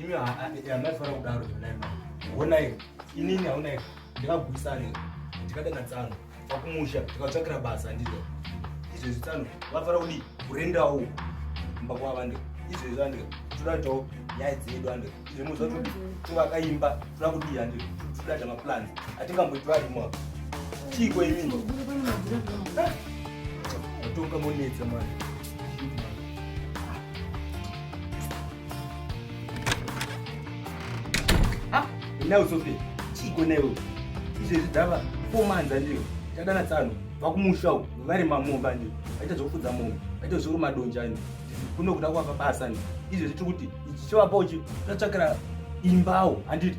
imi hamaifanira kudaro zvonai honai inini haunai ndikagwisane ndikadana tsano vakumusha tikatsvakira basa handizo izvezvi tsano vafara kudi kurendawo mba kwava ande izvezvi ande toda kuitawo nyaya dzedu ande izve muziva kuti tovakaimba toda kudii ande todada maplans atingamboiti varimo apa chiiko imini atonga monetsa mwana Ah, now Sophie, chiko newe. Izvezvi dzava four months andiyo. Tadana tsano, vakumusha uko, vari mamomba andiyo. Vaita zvokufudza momba, vaita zvokuruma donja andiyo. Kuno kuda kwava basa andiyo. Izvezvi tiri kuti ichi chivapo uchi tatsvakira imbawo handiti.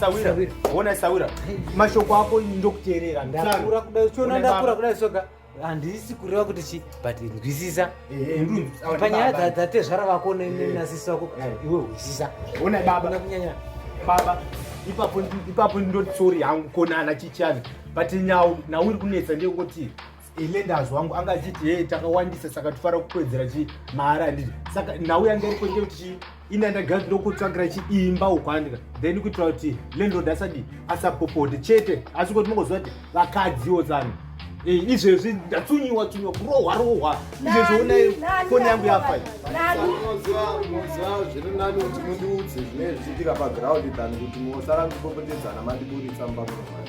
Sawira, ona Sawira. Mashoko ako ndokuteerera. Ndakura kuda uchiona ndakura kuda soka. Handisi kureva kuti chi but nzwisisa. Eh, eh, Panyaya dza dza tezvara vako ne eh. na sisi wako iwe nzwisisa. Ona baba na kunyanya. Baba ipapo ipapo ndoti sorry hangu konana chichana. But nyau na uri kunetsa ndiyekuti Elendas wangu anga achiti hey, takawandisa saka tofara kukwedzera chi mahara handiti saka nhau yanga iri kwende kuti chii ina ndagara ndokutsvagira chiimba ukwandika then kuitira kuti landlord asadi asapopote chete asi kuti mongoziva kuti vakadziwo tsano eh, izvezvi ndatsunyiwa tsunyiwa kurohwa rohwa izvezvi onai foni yangu yafa zviri nani kuti mundiudze zvine zvichiitika paground than kuti mosara kupopotedzana mandiburitsa mubamuromai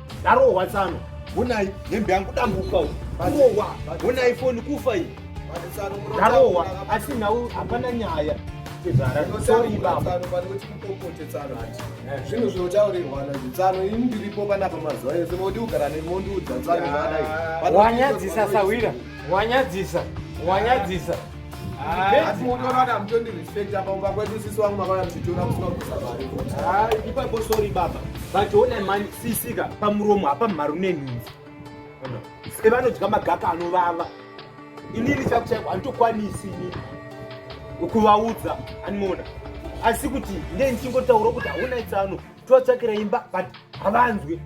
ndarohwa tsano honai hembe yangu dambuka kurohwa honai foni kufa iyi ndarohwa asi nhau hapana nyaya zvinhu zvinotaurirwana zvitsano ini ndiripo panapa mazuva ese moti kugara nemondiudza tsano wanyadzisa sahwira wanyadzisa wanyadzisa Asi muti wakada mutondi respect apa umba kwedu sisi wangu makauya mchitora kusina kusa mari. Ah, ipapo sorry baba. But ona mani sisi ka pamuromo hapa mharu nenhunzi. Sike vanodya magaka anovava. Inini chaku chaku anditokwanisi ini. Ukuvaudza animoona. Asi kuti ndiye ndichingotaura kuti hauna itsano. Totsvakira imba but havanzwe.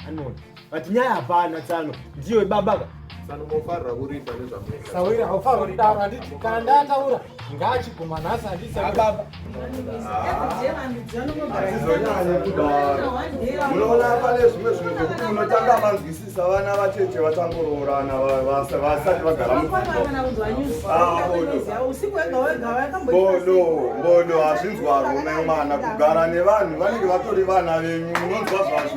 Animoona. But nyaya hapana tsano ndiyo ibaba ka. Tsano mofarira kuripa nezvamunoita. Sawira haufarira kutaura handiti kana ndataura ngaachiguma nhasi handiti baba. Unoona pane zvimwe zvinhu zvekuti unotanga vanzwisisa vana vacheche vachangoroorana vasati vagara mubodo bodo hazvinzwarwo nemwana kugara nevanhu vanenge vatori vana venyu unonzwa zvazvo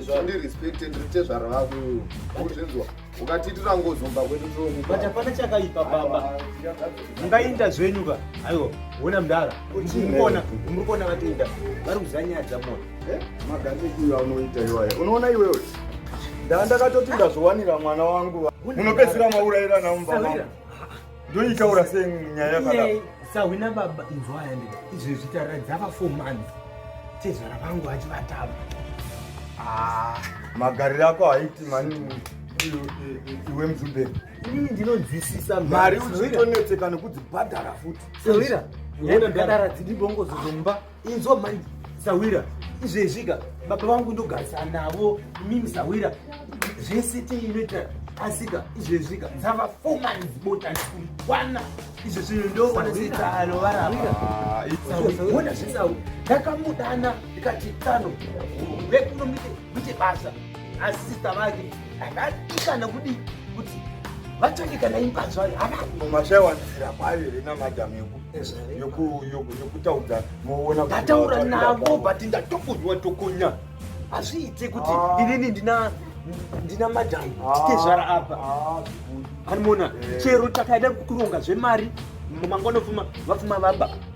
zvandirespected ritezvara vako uzvinzwa ukatiitira ngozi umba kwedu but hapana chakaipa baba mungainda zvenyu ka aiwa wona mdara murikuona murikuona vatoinda vari kuzanyadza mona eh? maganekuya unoita iwaye unoona iwewe ndaa ndakatoti ndazvowanira mwana wangu munopedzisira maurayira naumba ndoitaura sei nyaya yakadaro sahwina baba inzwaya ndi izvi zvitaura dzava four months tezvara vangu achivatava ah, magariro ako haiti mani iwe mzumberi ini ndinonzwisisa mari uchitonetseka nekudzibhadhara futi sahwira yaimbadara dzidi bongozo dzomba Inzwa manje sawira izvezvika baba vangu ndogarisana navo mimi sawira zvese tiinoita asika izvezvika dzava four months bota ndikukwana izvo zvinhu ndoona setsano varaaona ah, zvesau ndakamudana ndikati tsano vekunomite kuite basa asi sista vake akatika nokudii kuti vatsvake kana imba zvayo havamashaiwanisira kwayo here namadam yokutaudza moona ndataura navo but ndatokunywa tokunya hazviite kuti ah. inini ndina ndina madam ah. titezvara apa ah, animona eh. chero takaida kuronga zvemari mangwanofuma vafuma vaba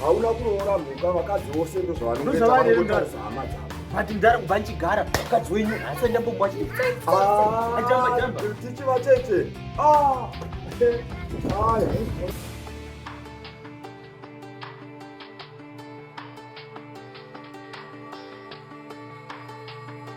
hauna kuroora mhuka vakadzi vose ndozvavanozvavarezama dzavo but ndara kubva ndichigara mukadzi wenyu hasa ndambomwa chichi vatete